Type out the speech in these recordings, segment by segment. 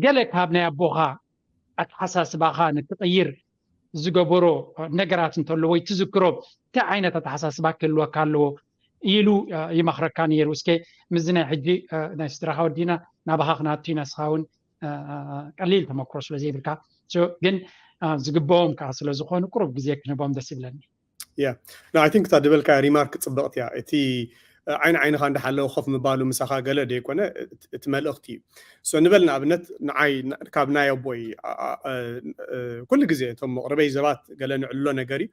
ገለ ካብ ናይ ኣቦኻ ኣተሓሳስባኻ ንክቕይር ዝገበሮ ነገራት እንተሎ ወይ ትዝክሮ እንታይ ዓይነት ኣተሓሳስባ ክህልወካ ኣለዎ ኢሉ ይመኽረካ ነይሩ እስከ ምስዚ ናይ ሕጂ ናይ ስድራኻ ወዲና ናባኻ ክነኣቱ ኢና ንስኻ እውን ቀሊል ተመክሮ ስለ ዘይብልካ ግን ዝግበኦም ከዓ ስለ ዝኾኑ ቁሩብ ግዜ ክንህቦም ደስ ይብለኒ ንይ ቲንክ እታ ድበልካ ሪማርክ ፅብቕቲ እያ እቲ ዓይኒ ዓይንኻ እንዳሓለወ ኮፍ ምባሉ ምሳኻ ገለ ደይኮነ እቲ መልእኽቲ እዩ ሶ ንበል ንኣብነት ንዓይ ካብ ናይ ኣቦይ ኩሉ ግዜ እቶም መቕርበይ ዘባት ገለ ንዕልሎ ነገር እዩ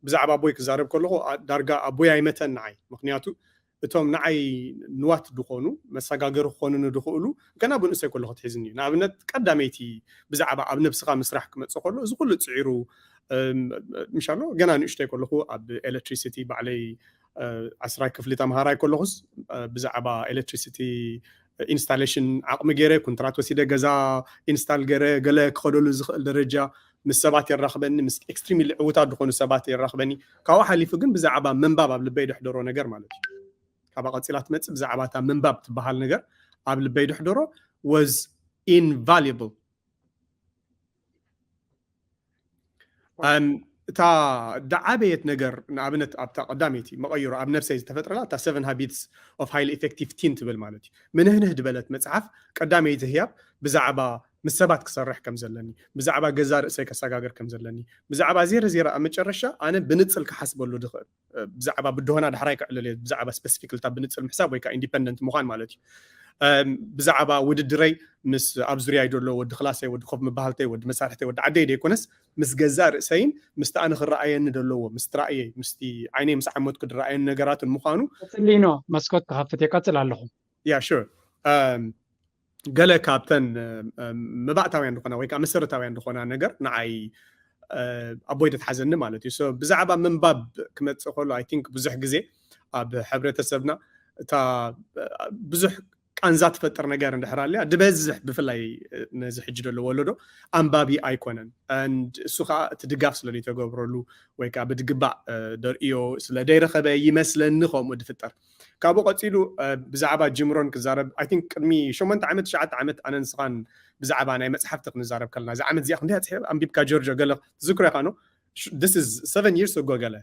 ብዛዕባ ኣቦይ ክዛረብ ከለኹ ዳርጋ ኣቦይ ኣይመተን ንዓይ ምክንያቱ እቶም ንዓይ ንዋት ድኾኑ፣ መሳጋገሪ ክኾኑኒ ድኽእሉ ገና ብንእሰይ ከለኹ ኣትሒዝኒ እዩ። ንኣብነት ቀዳመይቲ ብዛዕባ ኣብ ነብስኻ ምስራሕ ክመጽእ ከሎ እዚ ኩሉ ጽዒሩ ምሻሎ ገና ንእሽቶይ ከለኹ ኣብ ኤለትሪሲቲ ባዕለይ ዓስራይ ክፍሊ ተምሃራይ ከለኹስ ብዛዕባ ኤለትሪሲቲ ኢንስታሌሽን ዓቕሚ ገይረ ኩንትራት ወሲደ ገዛ ኢንስታል ገይረ ገለ ክኸደሉ ዝኽእል ደረጃ ምስ ሰባት የራኽበኒ ምስ ኤክስትሪምሊ ዕውታት ዝኾኑ ሰባት የራኽበኒ ካብኡ ሓሊፉ ግን ብዛዕባ ምንባብ ኣብ ልበይ ደሕደሮ ነገር ማለት እዩ ካብኣ ቀፂላ ትመፅእ ብዛዕባ እታ ምንባብ ትበሃል ነገር ኣብ ልበይ ደሕደሮ was invaluable እታ ዝዓበየት ነገር ንኣብነት ኣብታ ቀዳመይቲ መቐይሮ ኣብ ነብሰይ ዝተፈጥረላ እታ ሰቨን ሃቢትስ ኦፍ ሃይሊ ኢፌክቲቭ ቲን ትብል ማለት እዩ ምንህንህ ዝበለት መፅሓፍ ቀዳመይቲ ህያብ ብዛዕባ ምስ ሰባት ክሰርሕ ከም ዘለኒ ብዛዕባ ገዛ ርእሰይ ከሰጋገር ከም ዘለኒ ብዛዕባ ዜረ ዜረ ኣብ መጨረሻ ኣነ ብንፅል ክሓስበሉ ድኽእል ብዛዕባ ብድሆና ዳሕራይ ክዕልል እየ ብዛዕባ ስፐሲፊክልታ ብንፅር ምሕሳብ ወይ ከዓ ኢንዲፐንደንት ምዃን ማለት እዩ ብዛዕባ ውድድረይ ምስ ኣብ ዙርያይ ዘሎ ወዲ ክላሰይ ወዲ ኮፍ ምባሃልተይ ወዲ መሳርሕተይ ወዲ ዓደይ ደይኮነስ ምስ ገዛእ ርእሰይን ምስቲ ኣነ ክረኣየኒ ዘለዎ ምስቲ ራእየይ ምስቲ ዓይነይ ምስ ዓመትኩ ድረኣየኒ ነገራትን ምዃኑ ቅፅሊኖ መስኮት ክኸፍት እየ ቀፅል ኣለኹ ያ ሹር ገለ ካብተን መባእታውያን ዝኾና ወይ ከዓ መሰረታውያን ዝኾና ነገር ንዓይ ኣቦይ ተትሓዘኒ ማለት እዩ ሶ ብዛዕባ ምንባብ ክመፅእ ከሎ ኣይ ቲንክ ብዙሕ ግዜ ኣብ ሕብረተሰብና እታ ብዙሕ ቃንዛ ትፈጥር ነገር እንድሕር ኣልያ ድበዝሕ ብፍላይ ነዚ ሕጂ ዘሎ ወለዶ ኣንባቢ ኣይኮነን ንድ እሱ ከዓ እቲ ድጋፍ ስለ ዘይተገብረሉ ወይ ከዓ ብድግባእ ደርእዮ ስለ ዘይረኸበ ይመስለኒ ከምኡ ድፍጠር ካብኡ ቀጺሉ ብዛዕባ ጂም ሮን ክዛረብ ኣይ ቲንክ ቅድሚ ሸሞንተ ዓመት ትሽዓተ ዓመት ኣነ ንስኻን ብዛዕባ ናይ መጽሓፍቲ ክንዛረብ ከለና እዛ ዓመት እዚኣ ክንደይ ኣጽሒፍ ኣንቢብካ ጆርጆ ገለ ትዝክሮ ኢኻ ኖ this is seven years ago ገለ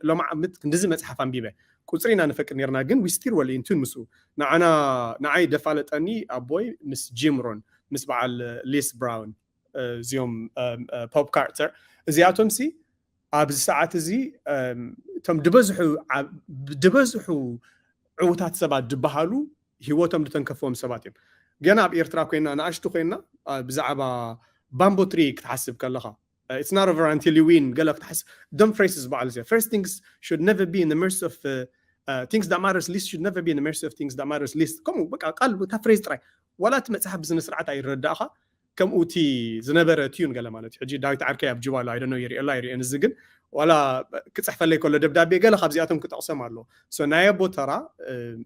ሎማ ዓመት ክንድዚ መጽሓፍ ኣንቢበ ቁጽሪ ኢና ንፈቅድ ነርና ግን we still well in tune ምስኡ ንዓና ንዓይ ደፋለጠኒ ኣቦይ ምስ ጂም ሮን ምስ በዓል ሊስ ብራውን እዚኦም ፖፕ ካርተር እዚኣቶም ሲ ኣብዚ ሰዓት እዚ እቶም ድበዝሑ ድበዝሑ ዕውታት ሰባት ድበሃሉ ሂወቶም ድተንከፍዎም ሰባት እዮም። ገና ኣብ ኤርትራ ኮይና ንኣሽቱ ኮይና ብዛዕባ ባምቦ ትሪ ክትሓስብ ከለኻ ኢትስ ናት ኦቨር ኣንቲል ዩ ዊን ገለ ክትሓስብ ደም ፍሬስ ዝበሃሉ እዚኣ ፈርስት ቲንግስ ሹድ ነቨር ቢ ኢን ዘ መርሲ ኦፍ ቲንግስ ዳት ማተርስ ሊስት ሹድ ነቨር ቢ ኢን ዘ መርሲ ኦፍ ቲንግስ ዳት ማተርስ ሊስት ከምኡ በቃ ቃል እታ ፍሬዝ ጥራይ ዋላ እቲ መጽሓፍ ብስነ ስርዓት ኣይረዳእኻ ከምኡ እቲ ዝነበረ ትዩን ገለ ማለት እዩ ሕጂ ዳዊት ዓርከይ ኣብ ጁባ ኣሎ ኣይ ዶንት ኖው ይርእዮ ኣሎ ኣይርእዮን እዚ ግን ዋላ ክጽሕፈለይ ከሎ ደብዳቤ ገለ ካብዚኣቶም ክጠቕሶም ኣሎ ሶ ናይ ኣቦ ተራ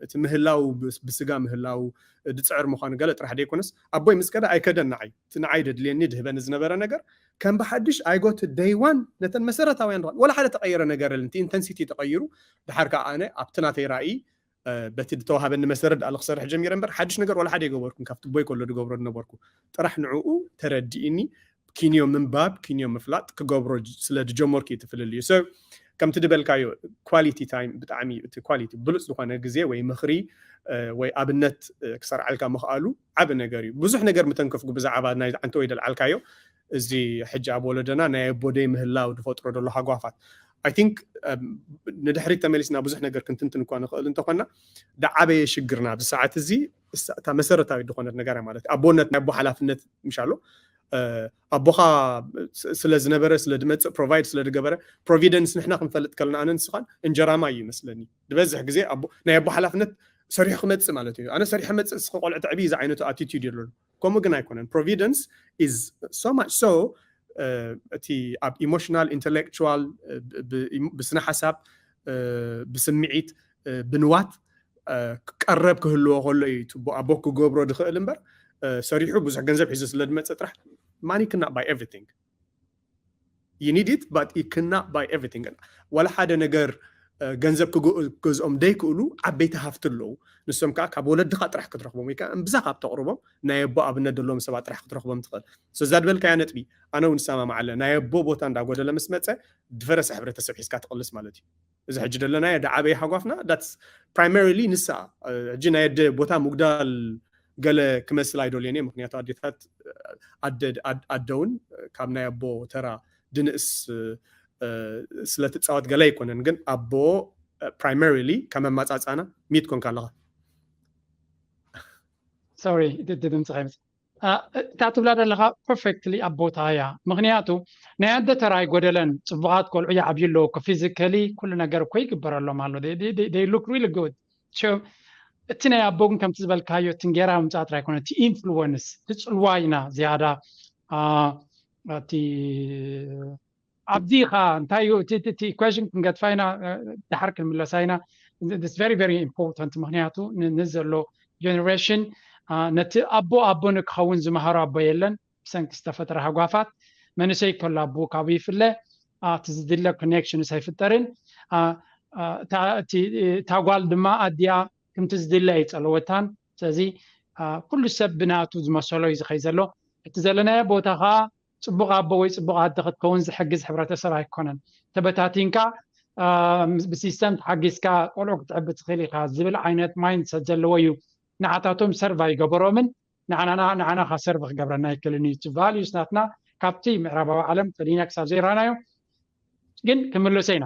እቲ ምህላው ብስጋ ምህላው ድጽዕር ምዃኑ ገለ ጥራሕ ደይኮነስ ኣቦይ ምስ ከደ ኣይከደን ንዓይ እቲ ንዓይ ደድልየኒ ድህበኒ ዝነበረ ነገር ከም ብሓድሽ ኣይ ጎ ቱ ደይ ዋን ነተን መሰረታውያን ዋላ ሓደ ተቐየረ ነገር እል እቲ ኢንተንሲቲ ተቐይሩ ድሓር ከኣ ኣነ ኣብቲ ናተይ ራእይ በቲ ድተዋሃበኒ መሰረት ድኣ ልክሰርሕ ጀሚረ እምበር ሓድሽ ነገር ዋላ ሓደ ኣይገበርኩን ካብቲ ቦይ ከሎ ድገብሮ ድነበርኩ ጥራሕ ንዕኡ ተረዲኢኒ ኪንዮ ምንባብ ኪንዮ ምፍላጥ ክገብሮ ስለ ድጀመርኩ እዩ እቲ ፍልልዩ ሰብ ከምቲ ድበልካዮ ኳሊቲ ታይም ብጣዕሚ እቲ ኳሊቲ ብሉፅ ዝኾነ ግዜ ወይ ምኽሪ ወይ ኣብነት ክሰርዓልካ ምኽኣሉ ዓቢ ነገር እዩ ብዙሕ ነገር ምተንከፍኩ ብዛዓባ ናይዚ ዓንተወይ ደልዓልካዮ እዚ ሕጂ ኣብ ወለዶና ናይ ኣቦ ደይ ምህላው ድፈጥሮ ደሎ ሃጓፋት ኣይ ቲንክ ንድሕሪት ተመሊስና ብዙሕ ነገር ክንትንትን እኳ ንኽእል እንተኾና ድዓበየ ሽግርና ኣብዚ ሰዓት እዚ እታ መሰረታዊት ዝኾነት ነገር ማለት እዩ ኣቦነት ናይ ኣቦ ሓላፍነት ምሽ ኣሎ ኣቦኻ ስለ ዝነበረ ስለ ድመፅእ ፕሮቫይድ ስለ ድገበረ ፕሮቪደንስ ንሕና ክንፈልጥ ከለና ኣነ ንስኻን እንጀራማ እዩ ይመስለኒ ዝበዝሕ ግዜ ኣቦ ናይ ኣቦ ሓላፍነት ሰሪሑ ክመጽእ ማለት እዩ ኣነ ሰሪሐ መጽእ እስከ ቆልዑ ተዕቢ ዝዓይነቱ ኣቲቲድ እዩ ኣለሉ ከምኡ ግን ኣይኮነን ፕሮቪደንስ ኢዝ ሶ ማች ሶ እቲ ኣብ ኢሞሽናል ኢንተሌክቹዋል ብስነ ሓሳብ ብስምዒት ብንዋት ቀረብ ክህልዎ ከሎ እዩ ትቦ ኣቦ ክገብሮ ዝኽእል እምበር ሰሪሑ ብዙሕ ገንዘብ ሒዙ ስለ ዝመፀ ጥራሕ ማኒ ክና ባይ ኤቭሪቲንግ ዩ ኒድ ኢት ባት ዩ ክናት ባይ ኤቭሪቲንግ ዋላ ሓደ ነገር ገንዘብ ክገዝኦም ደይክእሉ ዓበይቲ ሃፍቲ ኣለዉ ንሶም ከኣ ካብ ወለድኻ ጥራሕ ክትረኽቦም ወይ ከኣ እምብዛ ካብ ተቕርቦም ናይ ኣቦ ኣብነት ዘለዎም ሰባት ጥራሕ ክትረኽቦም ትኽእል so እዛ ዝበልካያ ነጥቢ ኣነ ውን እሰማማዓለ ናይ ኣቦ ቦታ እንዳጎደለ ምስ መጸ ድፈረሰ ሕብረተሰብ ሒዝካ ትቕልስ ማለት ዩ እዚ ሕጂ ደለናዮ ደዓበየ ሓጓፍና ዳትስ ፕራይመሪሊ ንሳ ሕጂ ናይ ኣደ ቦታ ምጉዳል ገለ ክመስል ኣይደልዮን እየ ምክንያቱ ኣዴታት ኣደውን ካብ ናይ ኣቦ ተራ ድንእስ ስለትፃወት ገለ ኣይኮነን ግን ኣቦ ፕራይመሪሊ ከም ኣማፃፃና ሚት ኮንካ ኣለኻ ሶሪ ድምፂ ከይምፅ እታ ትብላ ዘለካ ፐርፌክትሊ ኣብ ቦትኣ እያ ምክንያቱ ናይ ኣደ ተራ ኣይጎደለን ፅቡቃት ቆልዑ ይዓብዩ ኣለዉ እኮ ፊዚካሊ ኩሉ ነገር እኮ ይግበረሎም ኣሎ they look really good so እቲ ናይ ኣቦ ግን ከምቲ ዝበልካዮ እቲ እንጌራ ምምፃእ ጥራይ ኣይኮነ እቲ ኢንፍሉወንስ እቲ ፅልዋ ኢና ዝያዳ እቲ ኣብዚ ኸኣ እንታይ እዩ እቲ እቲ ኢኩዌሽን ክንገድፋ ኢና ደሓር ክንምለሳ ኢና this very very important ምክንያቱ ንዘሎ ጀነሬሽን ነቲ ኣቦ ኣቦ ንክኸውን ዝመሃሮ ኣቦ የለን ብሰንኪ ዝተፈጥረ ሃጓፋት መንእሰይ ከሎ ኣቦኡ ካብኡ ይፍለ እቲ ዝድለ ኮኔክሽንስ ኣይፍጠርን እታ ጓል ድማ ኣዲኣ ከምቲ ዝድለ ኣይጸለወታን ስለዚ ኩሉ ሰብ ብናቱ ዝመሰሎ እዩ ዝኸይ ዘሎ እቲ ዘለናዮ ቦታ ኸኣ ጽቡቕ ኣቦ ወይ ጽቡቕ ኣደ ክትከውን ዝሕግዝ ሕብረተሰብ ኣይኮነን። ተበታቲንካ ብሲስተም ተሓጊዝካ ቆልዑ ክትዕቢ ትኽእል ኢኻ ዝብል ዓይነት ማይንድ ሰት ዘለዎ እዩ። ንዓታቶም ሰርቭ ኣይገበሮምን ንዓና ንዓናኻ ሰርቭ ክገብረና ኣይክእልን እዩ። እቲ ቫልዩስ ናትና ካብቲ ምዕራባዊ ዓለም ፈሊና ክሳብ ዘይረኣናዮ ግን ክምለሶ ኢና።